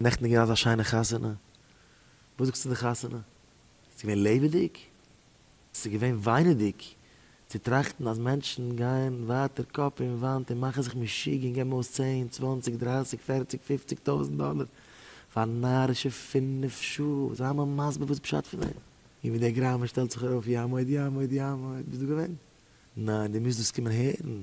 נעכטן איז געווען אזא שיינע חתונה, וואס זאגסטו די חתונה? ס'איז געווען לעבעדיג? ס'איז געווען וויינעדיג צו טראכטן אז מענטשן גייען ווייטער קאפ אין וואנט און מאכן זיך משוגע און געבן אויס צען, צוואנציג, דרייסיג, פערציג, פופציג טויזנט דאלער פאר נארישע פינף שעה, זיי מיר מסביר וואס פשט פון דעם? און ווי דער גראמען שטעלט זיך ארויף יעמוד יעמוד יעמוד, ביסט דא געווען? ניין, דו מוזט דאס קומען הערן.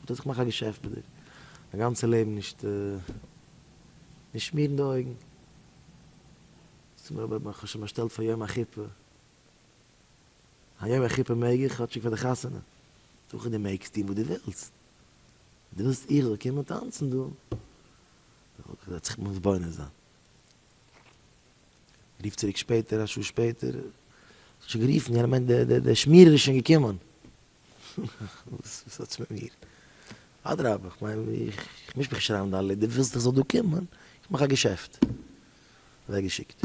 האט ער זיך געמאכט א געשעפט ביי דיר א גאנצע לעבן נישט נישט שמירן די אויגן ס'מיר אבער כ'האב שוין באשטעלט פאר יום החופה היום החופה מעג איך כאטשיג פאר די חתונה זאג איך דו מעגסט טון וואס דו ווילסט אויב דו ווילסט איך זאל קומען טאנצן דא וועט זיך מתבונן זיין רוף צוריק שפעטער א שעה שפעטער שוין גערופן יענער מיינט דער שמירער איז שוין געקומען. וואס האטס מיט מיר? אדרבה, איך מיין, איך מיש מיך נישט אריין אין דיין לעבן, דו ווילסט איך זאל דא קומען, איך מאך א געשעפט. אוועקגעשיקט.